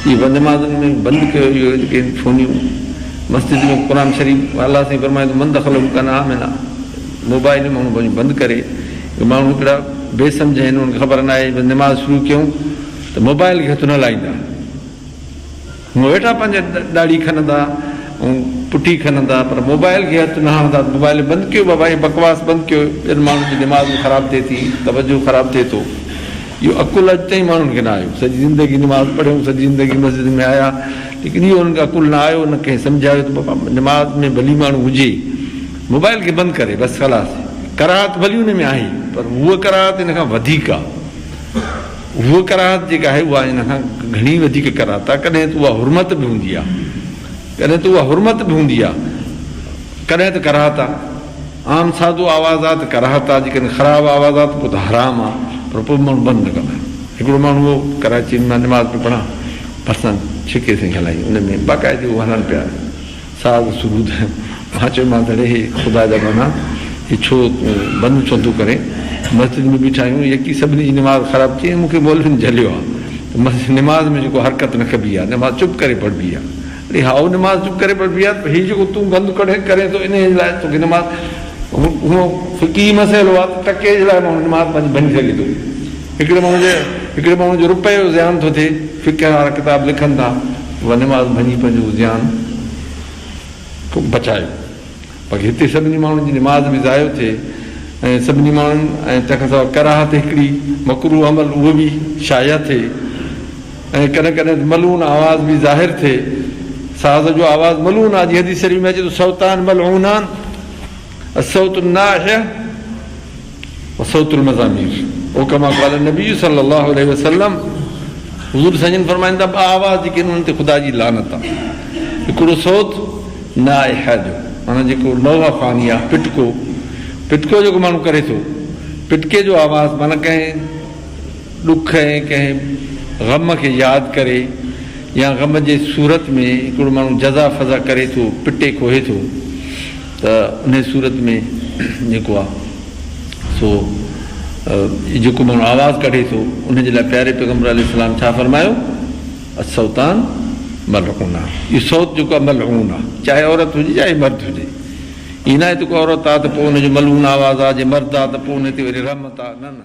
جي بندماغن ۾ بند ڪيو اهو هن کي ڦونيون مسجد ۾ قرآن شريف الله سائين فرمائي ٿو من دخله ڪان آمنا موبائل ماڻهو پنهنجو بند ڪري اهي ماڻهو هڪڙا بي سمجهه آهن انهن کي خبر ناهي جي نماز شروع ڪيون ته موبائل کي هٿ نه لائيندا. مون ويٺا پنهنجي ڏاڙهي کنندا ۽ پٺي کنندا پر موبائل کي هٿ نه هڻندا موبائل بند ڪيو بابا هي بڪواس بند ڪيو ٻين ماڻهن جي دماغ به خراب ٿئي ٿي توجهه خراب ٿئي ٿو اهو عقل اڄ تائين ماڻهن کي نه آيو سڄي زندگي نماز پڙهيون سڄي زندگي مسجد ۾ آيا ليڪن اهو انهن کي عقل نه آيو نه ڪنهن سمجهايو ته بابا نماز ۾ ڀلي ماڻهو هجي موبائل کي بند ڪري بس خلاص ڪراهت ڀلي ان ۾ آهي پر هوء ڪراهت ان کان وڌيڪ آ. هوء ڪراهت جيڪا آهي اها ان کان گهڻي وڌيڪ ڪراهت آهي، ڪڏهن ته اها حرمت به هوندي آهي، ڪڏهن ته اها حرمت به هوندي آهي، ڪڏهن ته ڪراهت آهي، عام سادو آواز آهي ته ڪراهت آهي، جيڪڏهن خراب آواز آهي ته پوء ته حرام آهي، پر پوء به ماڻهو بند نه ڪندا آهن. هڪڙو ماڻهو هو ڪراچيء ۾ مان نماز پئي پڙهان، ڀرسان ڇڪي سائين هلائين، ان ۾ باقاعدي هو هلن پيا. ساز سرود مان چيومانس اڙي هي خدا جا بنان هي ڇو تون بند ڇو ٿو ڪرين مسجد ۾ بيٺا آهيون يڪي سڀني جي نماز خراب ٿي ۽ مون کي مولوين جهليو آهي ته مسجد نماز ۾ جيڪو حرڪت نه ڪبي آهي نماز چپ ڪري پڙهبي آهي اڙي هائو نماز چپ ڪري پڙهبي آهي پر هي جيڪو تون بند ڪرين ٿو انهي جي لاء توکي نماز اهو فقهي مسئلو آهي ته ٽڪي جي لاء ماڻهو نماز پنهنجي ڀڃي سگهي ٿو هڪڙي ماڻهو جي هڪڙي ماڻهو جو روپئي جو زيان ٿو ٿئي فقه وارا ڪتاب لکن ٿا ونواس ڀڃي پنهنجو جيان بچايو باقي هتي سڀني ماڻهن جي نماز به ضايع ٿئي ۽ سڀني ماڻهن ۽ تنهن کان سواء ڪراهت هڪڙي مڪروه عمل اهو به شايع ٿئي ۽ ڪڏهن ڪڏهن ته ملعون آواز به ظاهر ٿئي ساز جو آواز ملعون آهي جيئن حديث شريف ۾ اچي ٿو صوتان ملعونان الصوت الناحيه وصوت المزامير او ڪما قال النبي صلي الله عليه وسلم حضور سنجن فرمائن ٿا ٻه آواز جيڪي انهن تي خدا جي لعنت آ هڪڙو صوت ناحيه جو معنيٰ جيڪو نوحه فاني آ پٽڪو پٽڪو جيڪو ماڻهو ڪري ٿو پٽڪي جو آواز معنيٰ ڪنهن ڏک ۽ ڪنهن غم کي ياد ڪري يا غم جي صورت ۾ هڪڙو ماڻهو جزا فزا ڪري ٿو پٽي کوهي ٿو ته انهيء صورت ۾ جيڪو آهي سو جيڪو ماڻهو آواز ڪڍي ٿو ان جي لاء پياري پيغمبر عليه السلام ڇا فرمايو، الصوتان ملعونان اهو صوت جيڪو آهي ملعون آهي چاهي عورت هجي چاهي مرد هجي ائين ناهي ته ڪو عورت آهي ته پوء ان جو ملعون آواز آهي جي مرد آهي ته پوء ان تي وري رحمت آهي نه نه.